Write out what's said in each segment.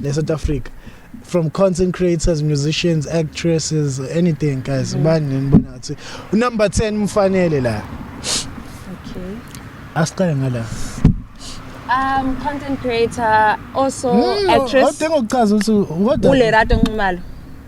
ne South Africa from content creators musicians actresses anything guys mm-hmm. ubani nibona ngathi number 10 mfanele la okay asiqale ngala um content creator also mm, actress odinga ukuchaza ukuthi kodwa ulerato nxumalo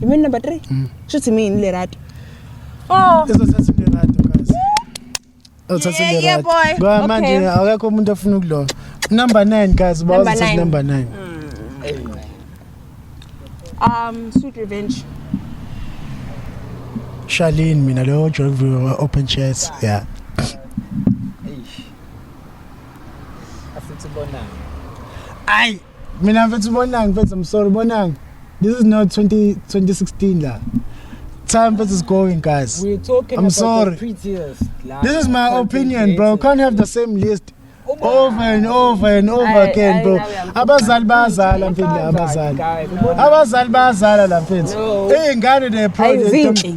You mean number three? Mm. Sho ukuthi mina le radio. Oh. Izothatha le radio guys. Uzothatha le radio. Yeah boy. Ngoba manje akekho umuntu ofuna ukuloya. Number 9 guys, bawuzothatha number 9. Mm. Um, Sweet Revenge. Charlene mina lo Joy Open Chats. Yeah. Asithi bonana. Ai. mina mfethu bonang mfethu i'm sorry bonang this is not 20, 2016 la time mfethu is going guys We're talking I'm about sorry. the prettiest. la. this is my Content opinion bro creators. can't have the same list over and over and over Ayi, again ayi, bro nawe uyamkhuluma. abazali bayazala mfethu la abazali Guys, ubona- abazali bayazala la mfethu No. iy'ngane the Ayi, project zinhle.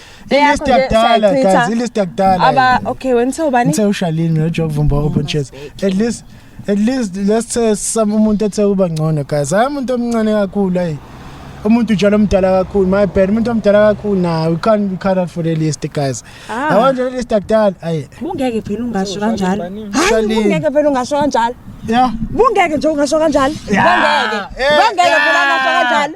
Ilist yakudala guys, ilist yakudala. Aba okay, when so bani? Ngithe uShalini noJob Vumba open chest. At least at least let's say some umuntu ethe uba ngcono guys. Hayi umuntu omncane kakhulu hayi. umuntu njalo omdala kakhulu my bad umuntu omdala kakhulu na we can't be cut out for the list guys ah. yabo nje list akudala ayi bungeke phela ungasho kanjalo hayi bungeke phela ungasho kanjalo yeah bungeke nje ungasho kanjalo bungeke bungeke phela ungasho kanjalo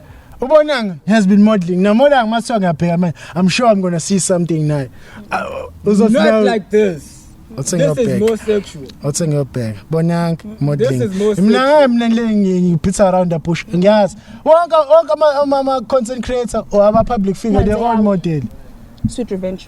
ubonanga has been modeling now modanga maswa ngiyabheka manje i'm sure i'm gonna see something naye uzothi not like this Othe ngiyobheka. Othe ngiyobheka. Bonang modeling. Mina mina ngiphitha around the bush. Ngiyazi. Wonke wonke ama ama content creator or ama public figure they all model. Sweet revenge.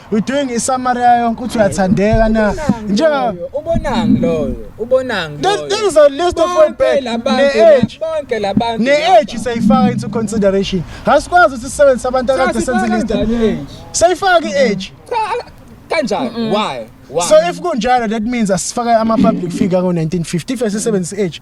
We're doing i summary yayo yonke ukuthi uyathandeka na. Nje ubonang loyo, ubonang loyo. There is a list of what back ne age. Bonke labantu. Ne age sayifaka into consideration. Hasikwazi ukuthi sisebenzise abantu akade senze list. Sayifaka i age. Kanjani? Why? Why? So if kunjalo that means asifaka ama public figure ngo 1950 if sisebenzisa age.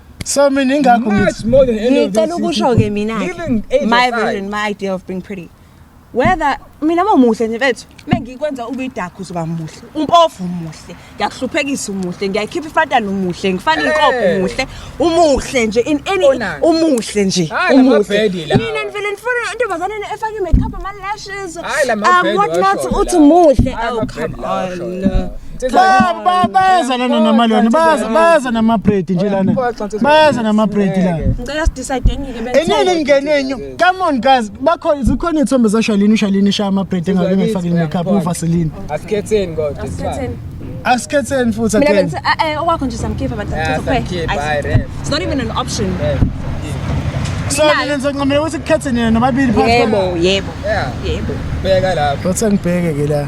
So mina ingakho Much ngithi more than any of ngicela these ukusho ke mina Living age my aside. version my idea of being pretty whether mina mamuhle nje bethu mengikwenza ube idakhu uzoba muhle umpofu umuhle ngiyakuhluphekisa umuhle ngiyayikhipha ifatana umuhle ngifana inkopo Eh. umuhle umuhle nje in any Onani. umuhle nje Hayi, la umuhle mabhedi lawa. mina ngivele ndifuna intombazane ena efake i-makeup ama-lashes Hayi, la um mabhedi what not washo uthi lawa. muhle Hayi, oh amabhedi come lawa washo on lawa. Ba- ba- bayeza lana namalwane baza baza namabredi nje lana baza namabredi lana ngicela sidecide ngike enini engenwenyu come on guys bakho zikhona iy'thombe zashalini ushalini ishaya amabredi engabe ngifakile makeup uvaseline asikhetheni kodwa it's fine. asikhetheni futhi mina again bengithi eh, eh, okwakho nje samkhipha but Yeah, ngithatha some kid, kuphela. buy Ayi, ref. it's not even an option Ref. so mina ngizoncamela ukuthi kukhetheni yena nobabili phakathi yebo kwabo. yebo Yeah, yebo bheka lapho. Wathi angibheke ke la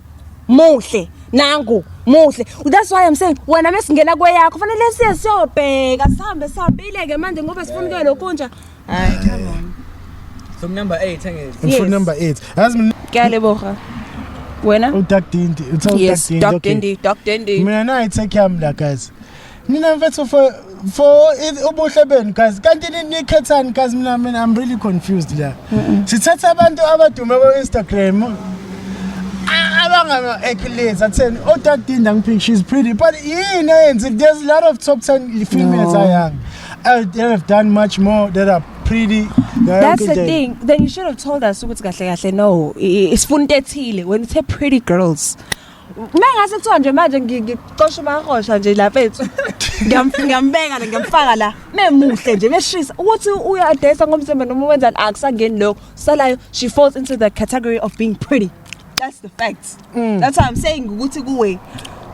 muhle nangu muhle that's why i'm saying wena mesingena kweyakho fanele siye siyobheka sihambe sihambile-ke manje ngoba sifuna kuyo lokhu nja hayi come on from number 8 angezi from yes. number 8 yazi mina kuyaleboha wena udak dindi uthe udak dindi yes udak dindi udak dindi mina nayi take yam la guys Nina mfethu for for ubuhle benu guys kanti nikhethani guys mina mina I'm really confused la. Sithatha abantu abadume ku Instagram abangama accolades atheni odadinda oh, ngiphi she's pretty but yini eyenze there's a lot of top 10 females no. ayanga uh, they have done much more that are pretty that's the thing then you should have told us ukuthi kahle kahle no isifuna into ethile when you say pretty girls Mengase kuthiwa nje manje ngi- ngicosha umarosha nje la mfethu. Ngiyam- Ngiyambeka la ngiyamfaka la. Memuhle nje meshisa ukuthi uyadayisa ngomzimba noma wenzani akusangeni lokho. Salayo she falls into the category of being pretty. That's the fact. Mm. That's why I'm saying ukuthi kuwe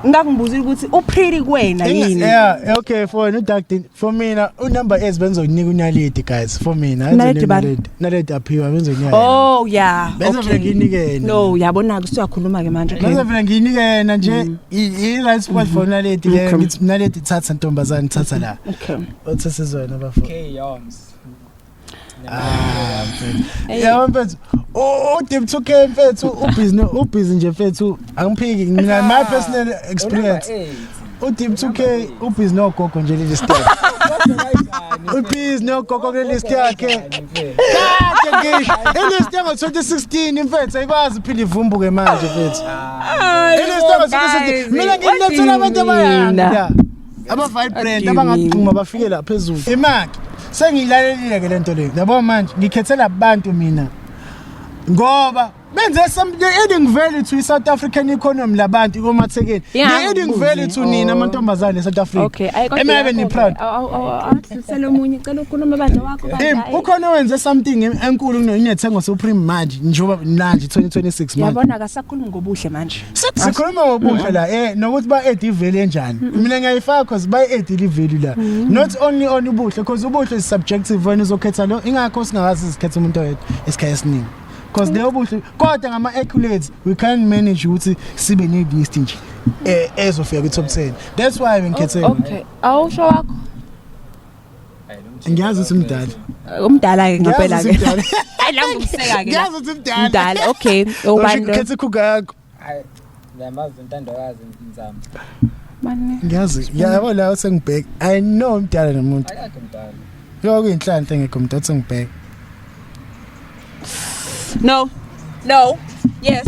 ngakungibuzile ukuthi u pretty kuwena yini. Yeah, okay, for no duck din. For mina unumber ez benzokunika uNaledi guys for mina Naledi bani? Naledi Naledi aphiwa benzokunika yena. Oh yeah. Bese vele nginike yena. No, yabona ke usuyakhuluma ke manje. Bese Okay. vele nginike yena nje Mm. i i- right spot for Naledi ke Okay. ngithi Naledi thatha ntombazane thatha la. Okay. Othe sizona bafo. K Yoms. Ah, yabo mfethu udip to care mfethu ubhizi ubhizi nje mfethu angiphiki mina my personal experience udip to care ubhizi nogogo nje leli step ubhizi nogogo kuleli list yakhe kade ngisho ilist yango 2016 imfethu ayikwazi uphinde ivumbuke manje mfethu ilist yango 2016 mina nginethula abantu abayanda Aba-vibrant abangagxuma bafike la phezulu. Imaki sengiyilalelile-ke le nto leyo yabo manje ngikhethela abantu mina ngoba benze the adding value to i-south african economy labantu komathekeni the adding value to nina oh. amantombazane e-south africa emayebe ni-proud ukhona owenze something enkulu kunethengo supreme manje njengoba manje 2026 manje yabona akasakhulumi ngobuhle manje sikhuluma ngobusha la eh nokuthi ba add value enjani mm. mina ngiyayifaka cause ba add i value la mm. not only on ubuhle cause ubuhle is subjective wena uzokhetha lo ingakho singakazi sikhetha umuntu oyedwa esikhaye esiningi cause leyo buhle kodwa ngama accolades we can manage ukuthi sibe ne list nje eh, ezofika ku top 10 that's why ngikhethe okay awusho wakho ngiyazi ukuthi mdala umdala ke ngempela ke nangumseka ke ngiyazi ukuthi mdala mdala okay ubani lo khethe khukakho ngiyamazi intandokazi nzama manje ngiyazi yabo la sengibheka i know mdala nomuntu akakho mdala yo kuyinhlanhla engekho mdala sengibheka no no yes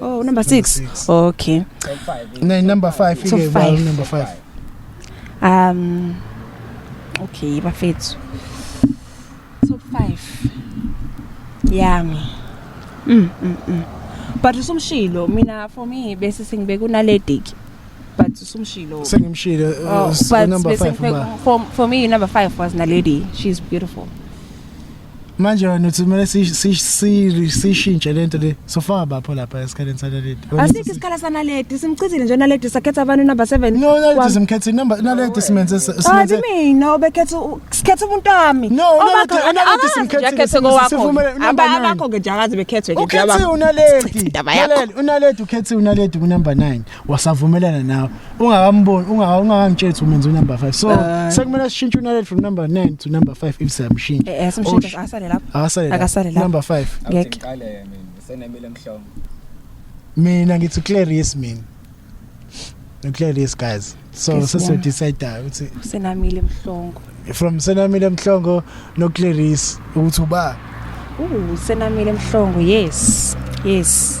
Oh number 6. Okay. Ne number 5 ike ba number 5. Um Okay bafethu. Top 5. Yami. Mm mm mm. But usumshilo mina for me bese sengibeka unalediki. but usumshilo sengimshilo oh, uh, number 5 for, for me number 5 was Naledi she's beautiful manje wena uthi kumele siyishintshe le nto le sofaka bapho lapha esikhaleni sanaledi asikho isikhala sanaledi simchithile nje naledi sakhetha abantu number 7 no naledi simkhethe number naledi simenze simenze mina obekhetha sikhetha umuntu wami no naledi simkhethe sivumele abakho ke njakazi bekhethwe ke njaba ukhethe unaledi unaledi ukhethe unaledi ku number 9 wasavumelana nawe ungakamboni ungakangitsheli ukuthi umenza unumber 5 so uh, sekumele sishintshe unalel from number 9 to number 5 if siyamshintsha eh, eh simshintshe asale lapho akasale lapho akasale lapho number 5 ngeke ngiqale mina senemile emhlongo mina ngithi Clarice mina no Clarice guys so sese decide ukuthi senamile emhlongo from senamile emhlongo no Clarice ukuthi uba uh senamile emhlongo yes yes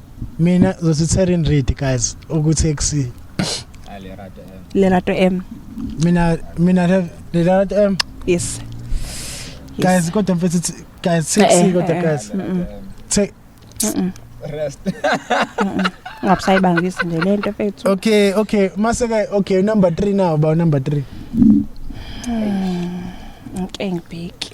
mina zosithera in read guys ukuthi ekusini lerato m mina mina have lerato m yes guys kodwa mfethu guys sexy eh, eh, kodwa eh. guys take rest ngabusayibangisi nje le nto fethu okay okay mase ke okay number 3 now ba number 3 hmm, ngike ngibheki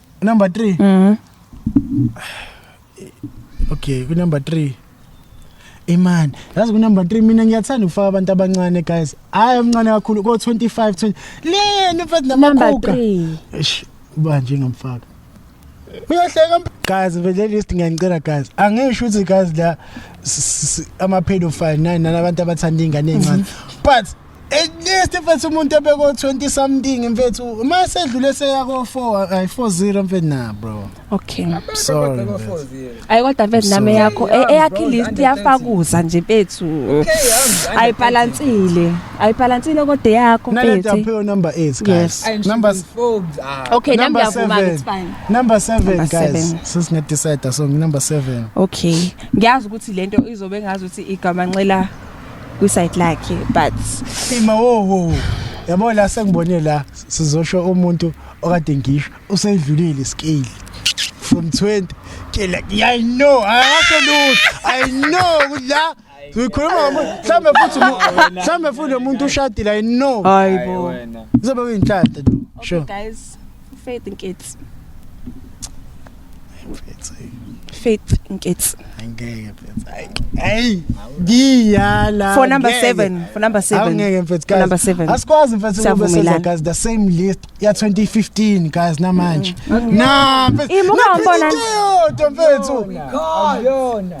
number 3 mhm okay ku number 3 imani yazi ku number 3 mina ngiyathanda ukufaka abantu abancane guys hayi omncane kakhulu ko 25 20 leni mfethu namakhuka eish ubanje ngamfaka uyahleka guys vele list ngiyangicela guys angisho ukuthi guys la ama pedophile nani nalabantu abathanda ingane encane mhm. but at least mfethu umuntu ebeko 20 something mfethu uma sedlule seya ko 4 ay 40 mfethu na bro okay sorry ayi kodwa mfethu name yakho e- eyakhe list yafakuza nje mfethu ayi balansile ayi balansile kodwa yakho mfethu naleta phe number 8 guys number ah. okay number 7 it's fine number 7 guys sisinga decide so number 7 okay ngiyazi ukuthi lento izobe ngazi ukuthi igama nxela kwisayidi lakhe but ima wo wo yabo la sengibone la sizosho umuntu okade ngisho usedlulile scale from 20 ke like i know akasho lutho i know ukuthi la uyikhuluma ngomuntu mhlawumbe futhi umu- mhlawumbe futhi lo muntu ushadile i know hayi bo Zobe uyinhlanhla lo. Sure. guys. Faith Nkitsi. Faith Nkitsi. Angeke mfethu. Hey, ngiyala. For number 7, for number 7. Angeke mfethu guys. Number 7. Asikwazi mfethu ngoba senza guys the same list ya 2015 guys namanje. Mm. Na mfethu. Imuka umbona. Mfethu. Ayona.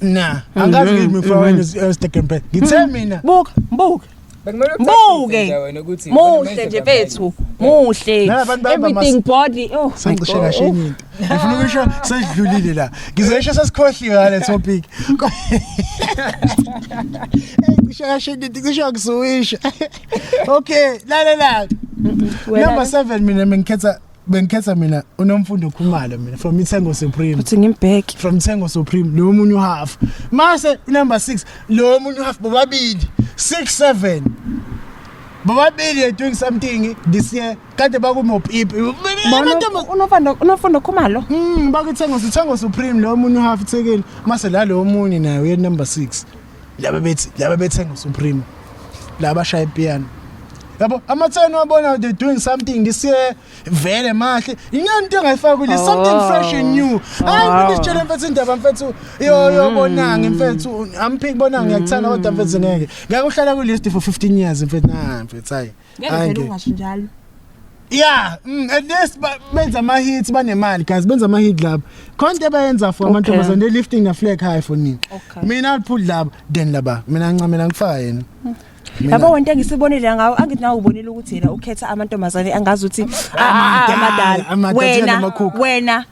na angazi Mm, kimi mfana wenu Stekenbe ngithe mina buka buka Bekumele Buke. ucaciswe nje wena ukuthi muhle nje benze bethu muhle Nalabantu bahamba everything mas- body oh my sangishe God. kahle enye into ngifuna ukusho sesidlulile la ngizesho sesikhohliwe ngale topic ngisho kahle enye into ngisho ngisuwisha okay lalela number 7 mina mengikhetha bengikhetha mina unomfundo khumalo mina from ithengo supreme uthi ngimbheki from ithengo supreme lo munye uhalf mase number 6 lo munye uhalf bobabili 6 7 bobabili are doing something this year kade bakumopipi unofundo unofundo khumalo mm bakuthengo sithengo supreme lo munye uhalf ithekeli mase la lo munye naye uye number 6 laba bethi laba bethenga usupreme laba shaya ipiano yabo amatheni wabona they doing something this year vele mahle inyani into engayifaki le something Oh. fresh and new hayi Oh. mfethu sitshele mfethu indaba mfethu yo yo bonangi mfethu amphiki bonangi ngiyakuthanda kodwa mfethu ngeke ngeke uhlala ku list for 15 years mfethu nah mfethu hayi Ngeke Hayi, vele nge- ungasho njalo. yeah mm, at least ba- benza ama hits banemali guys benza ama hit laba khona into abayenza for amantombazane they lifting the flag high for nini Okay. mina I'll put laba then laba mina ngincamela ngifaka yena Mina- Yabo wonke engisibonile ngawo angithi nawe ubonile ukuthi yena ukhetha amantombazane angazi ukuthi ah, ah, Amadala, amadala, amadala, thina wena namakhukhu. wena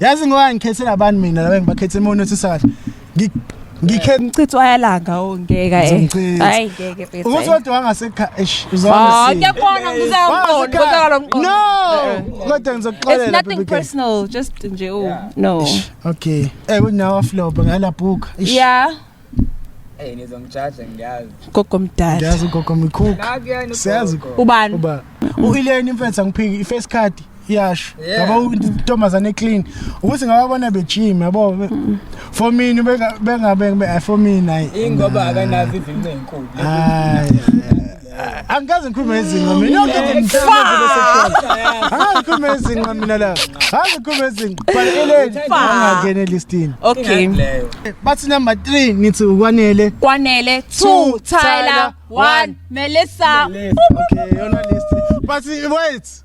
yazi ngoba ngikhethela abantu mina laba ngibakhethe imona uthisa kahle ngikhe ngicitha ayalanga ongeka oh, eh hayi ngeke bese ukuthi kodwa wangasekha eish uzona ah, si ngiyabona ngizawuqonda kodwa lo mqondo no eh, eh. kodwa ngizokuxolela it's nothing personal just nje oh no okay eh kunawa flop ngala book yeah Hey nizongijaja ngiyazi. Gogo mdala. Ngiyazi ugogo mkhulu. Siyazi ubani? Uba uIleni imfethu angiphiki ifirst card iyasho. Yabo intombazane clean. Ukuthi ngababona bejim yabo. For me bengabe bengabe for me nayi. Ingoba akanazi izinqe enkulu. Hayi. angikaze ngikhulume izinqa mina yonke into ngimhlawumbe hayi ngikhulume izinqa mina la hayi ngikhulume izinqa baleleni angangeni elistini okay bathi number 3 ngithi ukwanele kwanele 2 Tyler 1 Melissa okay yona list bathi wait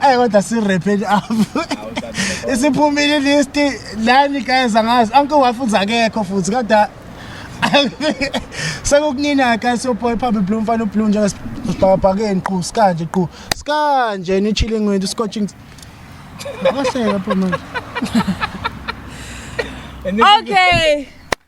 Ayi kodwa si wrap it up. Isiphumile list lani guys angazi anke wafuza akekho futhi kodwa sekukunina ka soboy phambi blue mfana ublue nje sibhakabhakeni qhu sikanje qhu sikanje ni chilling wethu scotching Ngakaseka pho manje. Okay.